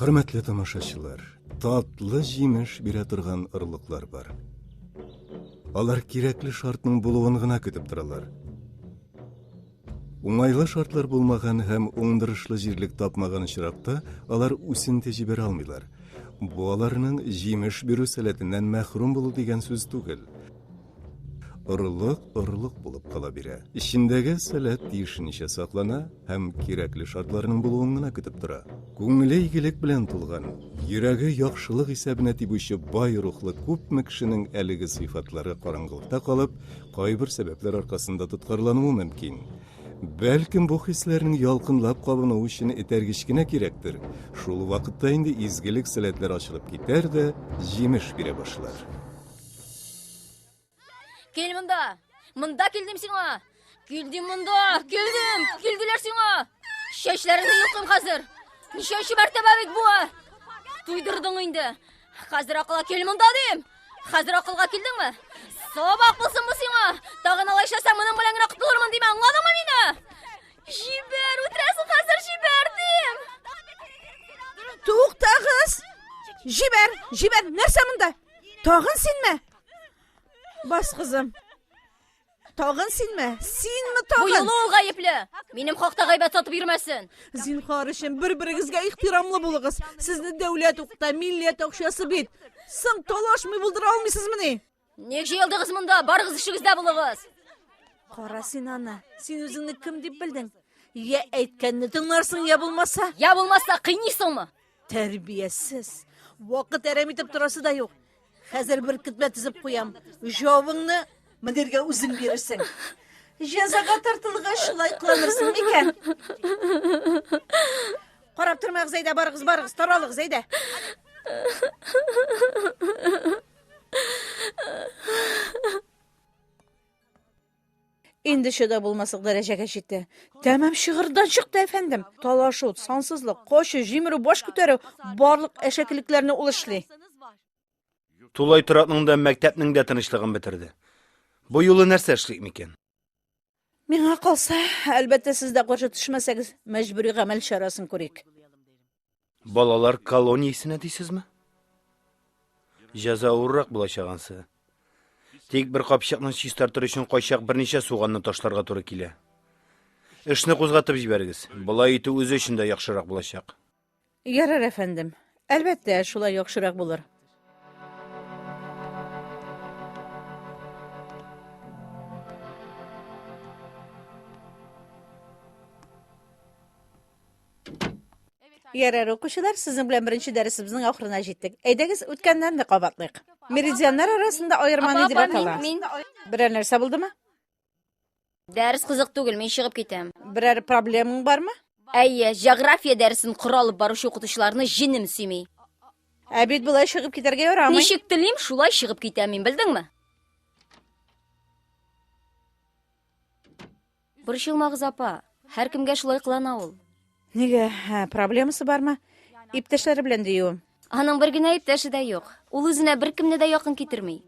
Хөрмәтле тамашачылар, татлы җимеш бирә торган орлыклар бар. Алар кирәкле шартның булуын гына көтеп торалар. Уңайлы шартлар булмаган һәм уңдырышлы җирлек тапмаган очракта алар үсенте җибәрә алмыйлар. Бу аларның җимеш бирү сәләтеннән мәхрүм булу дигән сүз түгел. Орлык орлык булып кала бирә. Эчендәге сәләт тиешенчә саклана һәм кирәкле шартларның булуын гына көтеп тора. Күңеле игелек белән тулган, йөрәге яхшылык исәбенә тибүче бай рухлы күпме кешенең әлеге сыйфатлары караңгылыкта калып, кайбер сәбәпләр аркасында тоткарлануы мөмкин. Бәлкем, бу хисләрнең ялкынлап кабынуы өчен этәргеч кенә кирәктер. Шул вакытта инде изгелек-сәләтләр ачылып китәр дә, җимеш бирә башлар. Кел монда! Монда килдем сиңа! Килдем монда! Килдем! Килделәр сиңа! Чәчләреңне йолкым хәзер! Ничәнче мәртәбә бит бу? Туйдырдың инде! Хәзер акыла кел монда дим! Хәзер акылга килдеңме? Сабак булсын бу сиңа! Тагын алай эшләсәң, моның белән генә котылырмын диме, аңладыңмы мине? Җибәр, үтерәсең хәзер, җибәр дим! Туктагыз! Җибәр, җибәр, нәрсә монда? Тагын синме? Бас, кызым. Тагын синме? Синме тагын? Бу юлы ул гаепле. Минем хакта гайбәт сатып йөрмәсен. Зинхар өчен бер-берегезгә ихтирамлы булыгыз. Сезне дәүләт укыта, милләт акчасы бит. Соң талашмый булдыра алмыйсызмыни? Ник җыелдыгыз монда? Барыгыз эшегездә булыгыз. Кара син аны. Син үзеңне кем дип белдең? Я әйткәнне тыңларсың, я булмаса. Я булмаса кыйныйсыңмы? Тәрбиясез. Вакыт әрәм итеп торасы да юк. Хәзер бер китмә тезеп куям. Җавыңны мөдиргә үзең бирерсең. Җәзага тартылгач шулай кыланырсың микән? Карап тормагыз әйдә, барыгыз, барыгыз, таралыгыз әйдә. Инде чыда булмаслык дәрәҗәгә җитте. Тәмам чыгырдан чыкты, әфәндем. Талашу, сансызлык, кочу, җимерү, баш күтәрү, барлык әшәкелекләрне ул эшли. Тулай торакның да, мәктәпнең дә тынычлыгын бетерде. Бу юлы нәрсә эшлик микән? Миңа калса, әлбәттә, сез дә каршы төшмәсәгез, мәҗбүри гамәл чарасын күрик. Балалар колониясенә дисезме? Җәза авыррак булачак ансы. Тик бер капчыкны чистартыр өчен кайчак берничә суганны ташларга туры килә. Эшне кузгатып җибәрегез. Болай итү үзе өчен дә яхшырак булачак. Ярар, әфәндем. Әлбәттә, шулай яхшырак булыр. Ярар, укучылар, сезнең белән беренче дәресебезнең ахырына җиттек. Әйдәгез, үткәннәрне кабатлыйк. Меридианнар арасында аерма ни дип атала? Берәр нәрсә булдымы? Дәрес кызык түгел, мин чыгып китәм. Берәр проблемаң бармы? Әйе, география дәресен коры алып баручы укытучыларны җенем сөйми. Ә бит болай чыгып китәргә ярамый. Ничек телим, шулай чыгып китәм мин, белдеңме? Борчылмагыз, апа. Һәркемгә шулай кылана ул. Нигә? Ә, проблемасы бармы? Иптәшләре белән диюем. Аның бер генә иптәше дә юк. Ул үзенә беркемне дә якын китерми.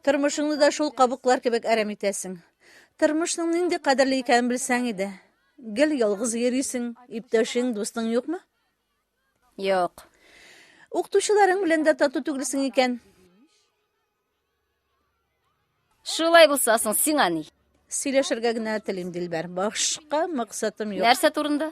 Тормышыңны да шул кабыклар кебек әрәм итәсең. Тормышның нинди кадерле икәнен белсәң иде. Гел ялгыз йөрисең, иптәшең, дустың юкмы? Юк. Укытучыларың белән дә тату түгелсең икән. Шулай булса соң сиңа ни? Сөйләшергә генә телим, Дилбәр. Башка максатым юк. Нәрсә турында?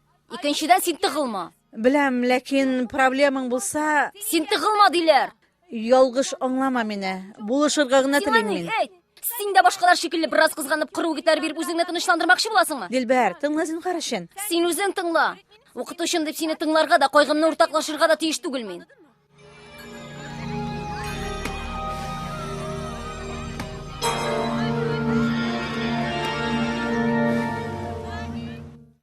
Икенчедән, син тыгылма. Беләм, ләкин проблемаң булса... Син тыгылма диләр! Ялгыш аңлама мине. Булышырга гына телим мин. Әйт! Син дә башкалар шикелле бераз кызганып, кыру гитар биреп үзеңне тынычландырмакчы буласыңмы? Дилбәр, тыңла зинһар өчен. Син үзең тыңла. Укытучым дип сине тыңларга да, кайгымны уртаклашырга да тиеш түгел мин.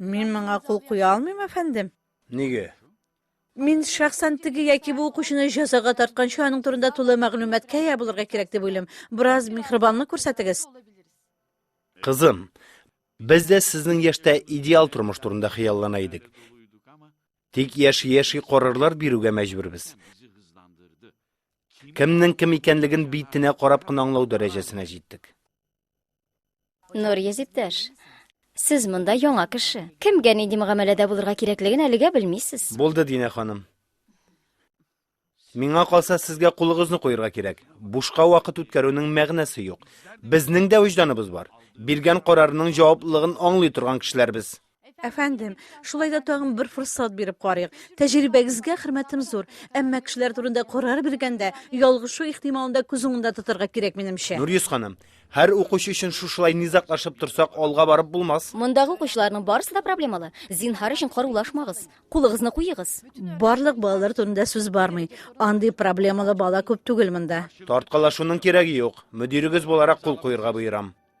Мин моңа кул куя алмыйм, әфәндем. Нигә? Мин шәхсән теге яки бу укучыны җәзага тартканчы аның турында тулы мәгълүматка ия булырга кирәк дип уйлыйм. Бераз михрибанлык күрсәтегез. Кызым, без дә сезнең яшьтә идеал тормыш турында хыяллана идек. Тик яши-яши карарлар бирүгә мәҗбүрбез. Кемнең кем икәнлеген битенә карап кына аңлау дәрәҗәсенә җиттек. Нурьез иптәш, сез монда яңа кеше. Кемгә нинди мөгамәләдә булырга кирәклеген әлегә белмисез. Булды, Динә ханым. Миңа калса, сезгә кулыгызны куерга кирәк. Бушка вакыт үткәрүнең мәгънәсе юк. Безнең дә вөҗданыбыз бар. Биргән карарының җаваплылыгын аңлый торган кешеләр без. Әфәндем, шулай да тагын бер форсат биреп карыйк. Тәҗрибәгезгә хөрмәтем зур, әмма кешеләр турында карар биргәндә, ялгышу ихтималында күз уңында тотарга кирәк, минемчә. Нурьюз ханым, һәр укучы өчен шушылай низаклашып торсак, алга барып булмас. Мондагы укучыларның барысы да проблемалы. Зинһар өчен карулашмагыз. Кулыгызны куегыз. Барлык балалар турында сүз бармый. Андый проблемалы бала күп түгел монда. Тарткалашуның кирәге юк. Мөдирегез буларак кул куерга боерам.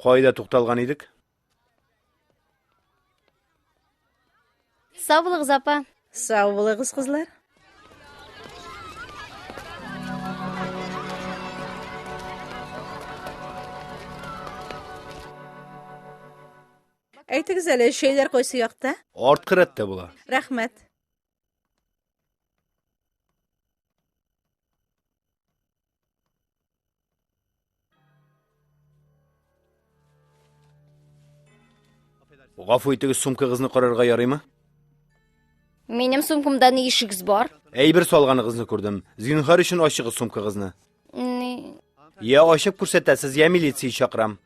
Кайда тукталган идек? Сау булыгыз, апа. Сау булыгыз, кызлар. Әйтегез әле, шәйләр кайсы якта? Арткы рәттә була. Рәхмәт. Гафу итегез, сумкагызны карарга ярыймы? Минем сумкамда ни ишегез бар? Әйбер салганыгызны күрдем. Зинһар өчен ачыгыз сумкагызны. Ни? Я ачып күрсәтәсез, я милиция чакырам.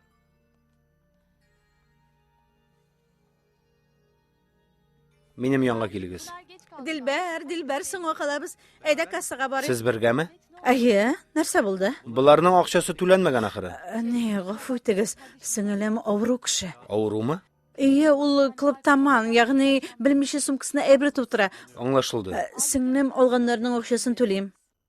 Минем янга килегез. Дилбәр, Дилбәр, соңга калабыз. Әйдә кассага барыйк. Сез бергәме? Әйе, нәрсә булды? Боларның акчасы түләнмәгән ахыры. Ә, Не, гафу итегез, сеңелем авыру кеше. Авырумы? Әйе, ул клубтаман, ягъни белмичә сумкасына әйбер тутыра. Аңлашылды. Ә, Сеңлем алганнарның акчасын түлим.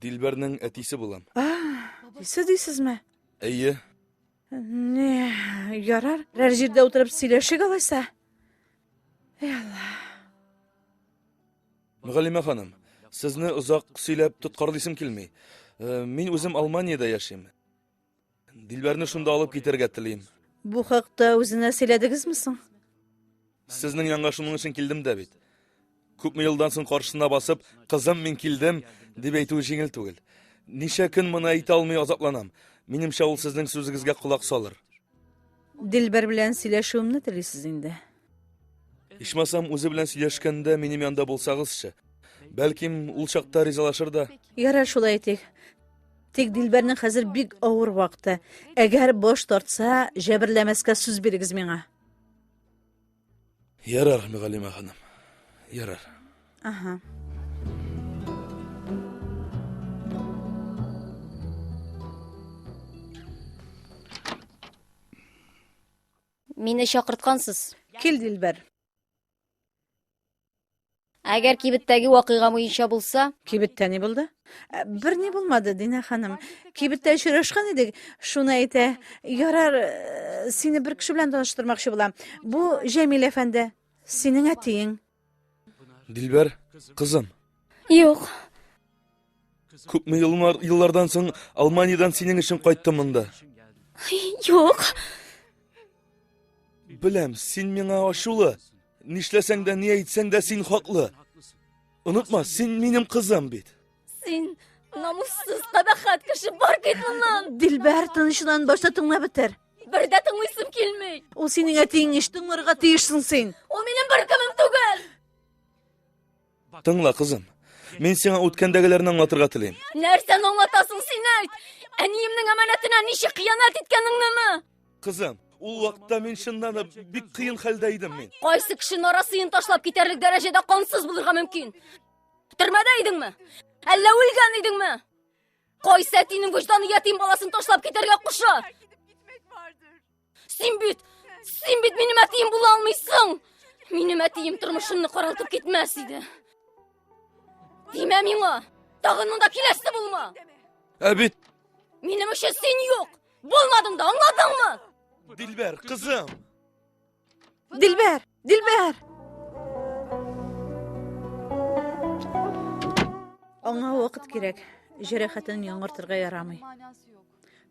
Дилбәрнең әтисе булам. Әтисе дисезме? Әйе. Не, ярар. Рәр җирдә утырып сөйләшик алайса. Эй Алла. Мөгаллимә ханым, сезне озак сөйләп тоткарлыйсым килми. Э, мин үзем Алманиядә яшим. Дилбәрне шунда алып китәргә телим. Бу хакта үзенә сөйләдегезме соң? Сезнең янга шуның өчен килдем дә бит. Күпме елдан соң каршысына басып, кызым, мин килдем, дип әйтүе җиңел түгел. Ничә көн моны әйтә алмый азапланам. Минемчә, ул сезнең сүзегезгә колак салыр. Дилбәр белән сөйләшүемне телисез инде. Ичмасам, үзе белән сөйләшкәндә минем янда булсагызчы. Бәлким, ул чакта ризалашыр да. Ярар, шулай итик. Тик Дилбәрнең хәзер бик авыр вакыты. Әгәр баш тартса, җәберләмәскә сүз бирегез миңа. Ярар, Мөгаллимә ханым. Ярар. Ага. Мине чакырткансыз. Кил, Дилбәр. Әгәр кибеттәге вакыйга буенча булса? Кибеттә ни булды? Ә, бер ни булмады, Динә ханым. Кибеттә очрашкан идек, шуны әйтә. Ярар, э, сине бер кеше белән таныштырмакчы була. Бу Җәмил әфәнде, синең әтиең. Дилбәр, кызым. Юк. Күпме еллар, еллардан соң Алманиядән синең өчен кайттым монда. Юк. Беләм, син миңа ачулы. Нишләсәң дә, ни әйтсәң дә син хаклы. Онытма, син минем кызым бит. Син намуссыз кабахат кеше бар кит моннан. Дилбәр тынычлан башта тыңлап бетер. Бер дә тыңлыйсым килми. Ул синең әтиең еш тыңларга тиешсең син. Ул минем бер кемем түгел. Тыңла, кызым. Мин сиңа үткәндәгеләрне аңлатырга телим. Нәрсәне аңлатасың син әйт? Әниемнең әманәтенә ничек хыянәт иткәнеңнеме? Кызым, ул вакытта мин чыннан да бик кыен хәлдә идем мин. Кайсы кеше нарасыен ташлап китәрлек дәрәҗәдә кансыз булырга мөмкин? Төрмәдә идеңме? Әллә үлгән идеңме? Кайсы әтинең вөҗданы ятим баласын ташлап китәргә куша? Син бит, син бит минем әтием була алмыйсың. Минем әтием тормышымны каралтып китмәс иде. Димә миңа, тагын монда киләсе булма. Ә бит Минем өчен син юк. Булмадың да, аңладыңмы? Дилбәр, кызым. Дилбәр! Дилбәр! Аңа вакыт кирәк. Җәрәхәтен яңартырга ярамый.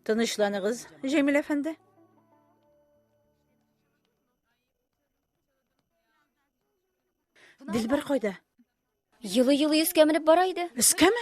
Тынычланыгыз, Җәмил әфәнде. Дилбәр кайда? Елы-елы өскә менеп бара иде. Өскәме?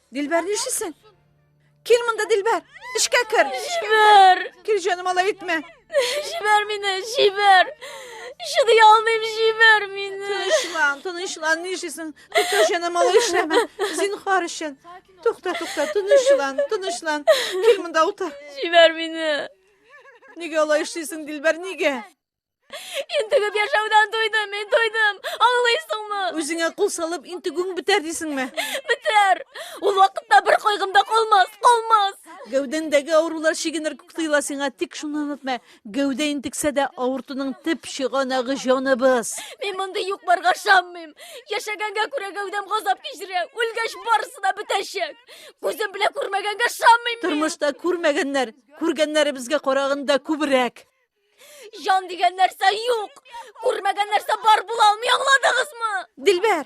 Дилбәр, нишлисең? Кил монда, Дилбәр. Эшкә кер. Җибәр. Кил, җаным, алай итмә. Җибәр мине, җибәр. Чыдый алмыйм, җибәр мине. Тынычлан, тынычлан, нишлисең? Тукта, җаным, алай эшләмә. Зинхар өчен. Тукта, тукта, тынычлан, тынычлан. Кил монда утыр. Җибәр мине. Нигә алай эшлисең, Дилбәр, нигә? Интегеп яшәүдән туйдым, мин туйдым. Аңлыйсыңмы? Үзеңә кул салып, интегүң бетәр дисеңме? Бетәр. Ул вакытта бер кайгым да калмас, калмас. Гәүдәңдәге авырулар чигенер күк тоела сиңа, тик шуны онытма. Гәүдә интексә дә авыртуның төп чыганагы җаныбыз. Мин мондый юк барга шаммыйм. Яшәгәнгә күрә гәүдәм газап кичерә. Үлгәч барысы да бетәчәк. Күзем белән күрмәгәнгә шаммыйм. Тормышта күрмәгәннәр, күргәннәребезгә караганда күбрәк. Җан дигән нәрсә юк. Күрмәгән нәрсә бар була алмый, аңладыгызмы? Дилбәр.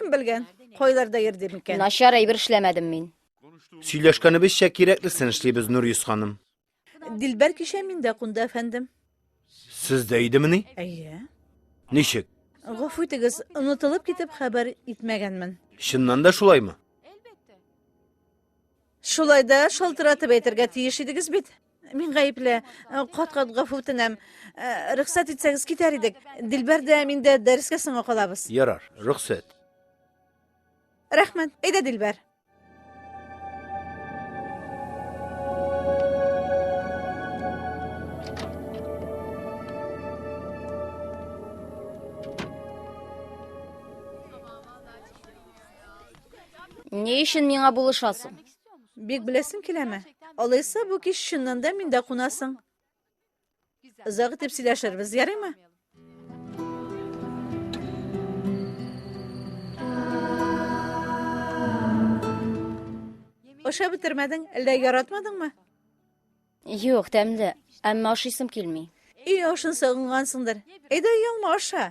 Кем белгән, кайларда йөрде микән? Начар әйбер эшләмәдем мин. Сөйләшкәнебезчә кирәклесен эшлибез, Нурис ханым. Дилбәр кичә миндә кунды, әфәндем. Сездә идемени? Әйе. Ничек? Гафу итегез, онытылып китеп хәбәр итмәгәнмен. Чыннан да шулаймы? Шулай да шалтыратып әйтергә тиеш идегез бит. Мин гаепле. Кат-кат гафу үтенәм. Э, рөхсәт итсәгез китәр идек. Дилбәр дә мин дә дәрескә соңга калабыз. Ярар, рөхсәт. Рәхмәт. Әйдә, Дилбәр. Ни өчен миңа булышасың? Бик беләсең киләме? Алайса бу кич чыннан да миндә кунасың. Озак итеп сөйләшербез, ярыймы? Ашап бетермәдең, әллә яратмадыңмы? Юк, тәмле, әмма ашыйсым килми. Өй ашын сагынгансыңдыр. Әйдә, ялма аша.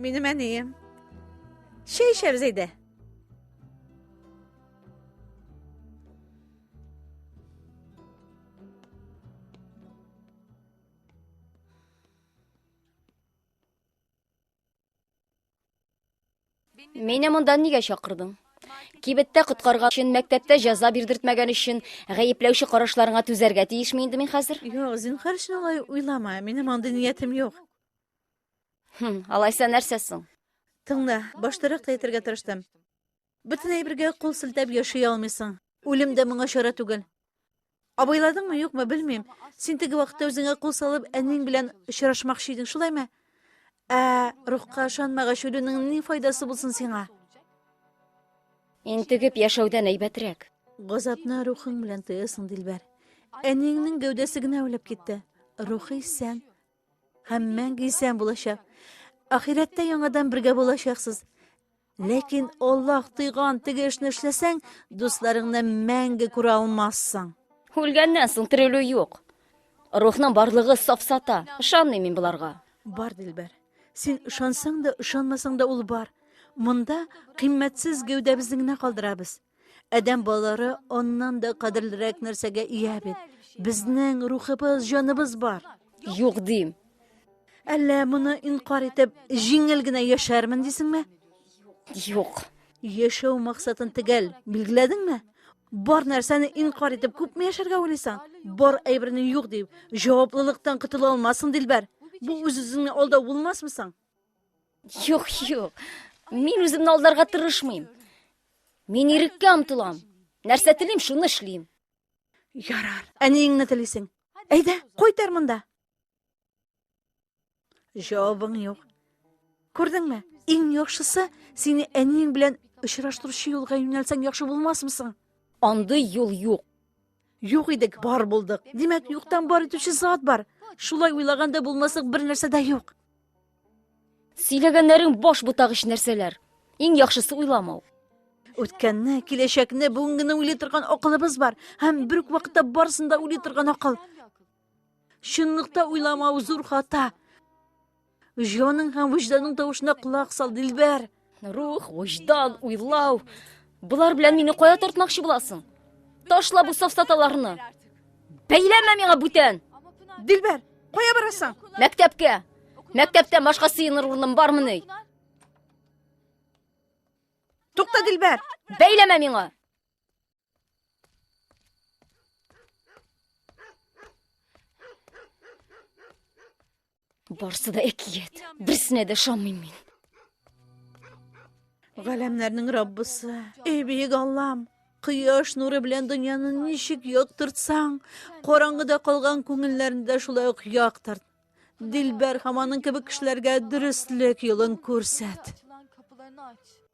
Минем әнием. Чәй эчәбез әйдә. Мине монда нигә чакырдың? Кибеттә коткарган өчен, мәктәптә җәза бирдертмәгән өчен гаепләүче карашларыңа түзәргә тиешме инде мин хәзер? Юк, зинһар өчен алай уйлама. Минем андый ниятем юк. Хм, алайса нәрсә соң? Тыңла, баштарак та әйтергә тырыштым. Бөтен әйбергә кул селтәп яши алмыйсың. Үлем дә моңа чара түгел. Абайладыңмы, юкмы, белмим. Син теге вакытта үзеңә кул салып, әниң белән очрашмакчы идең, шулаймы? Ә рухка ышанмагач, үлүнең ни файдасы булсын сиңа? Интегеп яшәүдән әйбәтрәк. Газапны рухың белән тоясың, Дилбәр. Әниеңнең гәүдәсе генә үлеп китте. Рухы исән һәм мәңге исән булачак. Ахирәттә яңадан бергә булачаксыз. Ләкин Аллаһ тыйган теге эшне эшләсәң, дусларыңны мәңге күрә алмассың. Үлгәннән соң терелү юк. Рухның барлыгы сафсата. Ышанмыйм мин боларга. Бар, Дилбәр. Син ышансаң да, ышанмасаң да ул бар. Монда кыйммәтсез гәүдәбезне генә калдырабыз. Адәм балалары аннан да кадерлерәк нәрсәгә ия бит. Безнең рухыбыз, җаныбыз бар. Юк дим. Әллә моны инкар итеп, җиңел генә яшәрмен дисеңме? Юк. Яшәү максатын төгәл билгеләдеңме? Бар нәрсәне инкар итеп күпме яшәргә уйлыйсың? Бар әйберне юк дип, җаваплылыктан котыла алмассың, Дилбәр. Бу үз-үзеңне алдау булмасмы соң? Юк, юк. Мин үземне алдарга тырышмыйм. Мин иреккә омтылам. Нәрсә телим, шуны эшлим. Ярар. Әниеңне телисең. Әйдә, кайтар монда. Җавабың юк. Күрдеңме? Иң яхшысы, сине әниең белән очраштыручы юлга юнәлсәң яхшы булмасмы соң? Андый юл юк. Юк идек, бар булдык. Димәк, юктан бар итүче зат бар. Шулай уйлаганда булмаслык бер нәрсә дә юк. Сөйләгәннәрең баш бутагыч нәрсәләр. Иң яхшысы уйламау. Үткәнне, киләчәкне, бүгенгене уйлый торган акылыбыз бар. Һәм бер үк вакытта барысын да уйлый торган акыл. Чынлыкта уйламау зур хата. Җаның һәм вөҗданың тавышына колак сал, Дилбәр. Рух, вөҗдан, уйлау. Болар белән мине кая тартмакчы буласың? Ташла бу сафсаталарны. Бәйләмә миңа бүтән. Дилбәр, кая барасың? Мәктәпкә. Мәктәптә башка сыеныр урыным бармыни? Тукта, Дилбәр. Бәйләмә миңа. Барсы да әкият. Берсенә дә ышанмыйм мин. Галәмнәрнең Раббысы, эй бөек Аллам, Кояш нуры белән дөньяны ничек яктыртсаң, караңгыда калган күңелләрне дә шулай ук яктырт. Дилбәр һәм аның кебек кешеләргә дөреслек юлын күрсәт.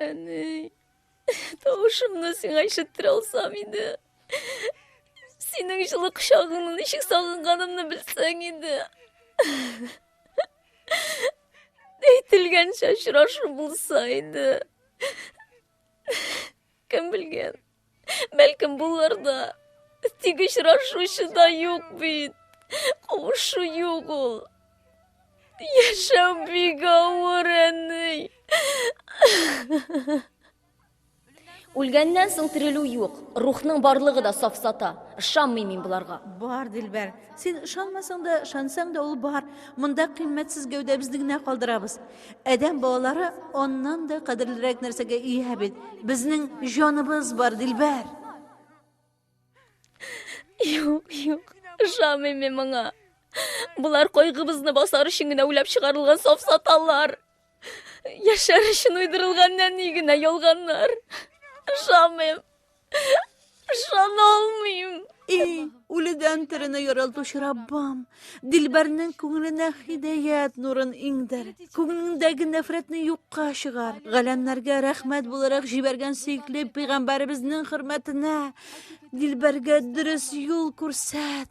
Әни, тавышымны сиңа ишеттерә алсам иде. Синең җылы кочагыңны ничек сагынганымны белсәң иде. Әйтелгәнчә очрашу булса иде. Кем белгән? Бәлкем булыр да. Тик очрашучы да юк бит. Кавышу юк ул. Яшәү бик авыр, әни. Үлгәннән соң терелү юк. Рухның барлыгы да сафсата. Ышанмыйм мин боларга. Бар, Дилбәр, Син ышанмасаң да, ышансаң да ул бар. Монда кыйммәтсез гәүдәбезне генә калдырабыз. Адәм балалары аннан да кадерлерәк нәрсәгә ия бит. Безнең җаныбыз бар, Дилбәр. Юк, юк. Ышанмыйм мин моңа. Болар кайгыбызны басар өчен генә уйлап чыгарылган сафсаталар. Яшәр өчен уйдырылган нәни генә ялганнар. Ышамыйм. Ышана алмыйм. И, үледән терене яралтучы Раббам, Дилбәрнең күңеленә хидәят нурын иңдер. Күңелендәге нәфрәтне юкка чыгар. Галәмнәргә рәхмәт буларак җибәргән сөекле пәйгамбәребезнең хөрмәтенә Дилбәргә дөрес юл күрсәт.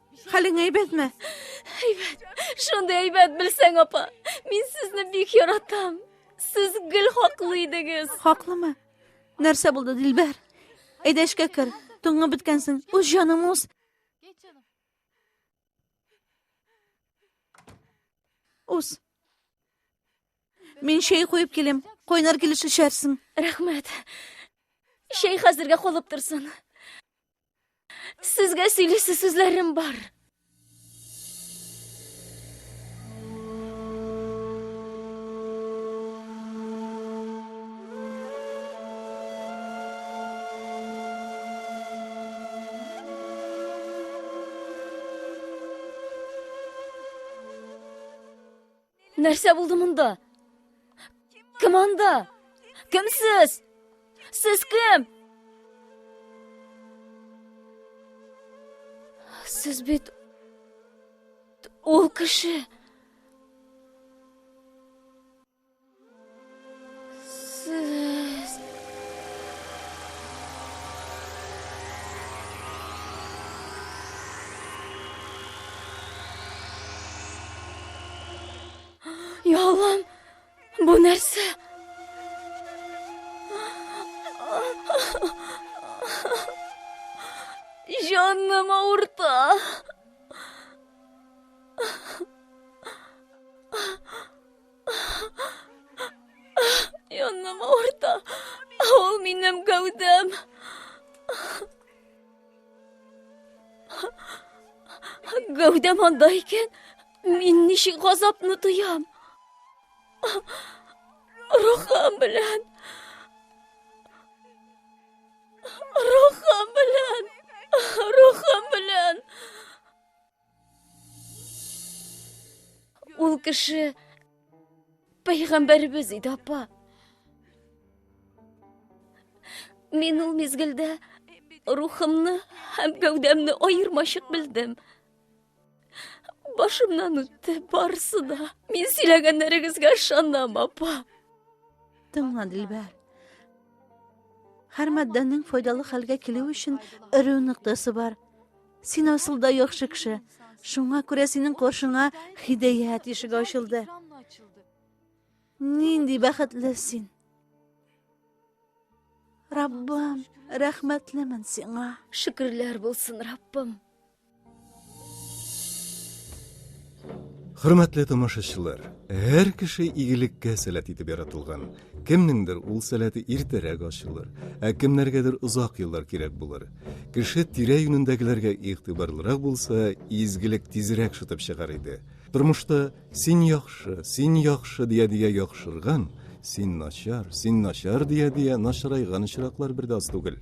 Хәлең әйбәтме? Әйбәт. Шундый әйбәт белсәң, апа. Мин сезне бик яратам. Сез гел хаклы идегез. Хаклымы? Нәрсә булды, Дилбәр? Әйдә эшкә кер. Туңып беткәнсең. Үз җаның үз. Үз. Мин чәй куеп килем. Кайнар килеш эчәрсең. Рәхмәт. Чәй хәзергә калып торсын. Сезгә сөйлисе сүзләрем бар. Нәрсә булды монда? Кем анда? Кем сез? Сез кем? Сез бит ул кеше. Яллам, бу нәрсә? Җаным авырта. Йонным ауырта. Ул минем гәүдәм. Гәүдәм анда икән, мин ничек газапны тоям? Рухым белән. Рухым белән. Рухым белән. Ул кеше пәйгамбәребез иде, апа. Мин ул мизгелдә рухымны һәм гәүдәмне аермачык белдем. Башымнан үтте барысы да. Мин сөйләгәннәрегезгә ышанам, апа. Тыңла, Дилбәр. Һәр матдәнең файдалы хәлгә килү өчен эре ноктасы бар. Син асыл да яхшы кеше. Шуңа күрә синең каршыңа хидәят ишеге ачылды. Нинди бәхетле син. Раббым, рәхмәтлемен сиңа. Шөкерләр булсын, Раббым. Хөрмәтле тамашачылар, һәр кеше игелеккә сәләт итеп яратылган. Кемнеңдер ул сәләте иртәрәк ачылыр, ә кемнәргәдер озак еллар кирәк булыр. Кеше тирә юнендәгеләргә игътибарлырак булса, изгелек тизрәк шытып чыгар иде. Тормышта син яхшы, син яхшы дия дия яхшырган, син начар, син начар дия дия начарайган очраклар бер дә аз түгел.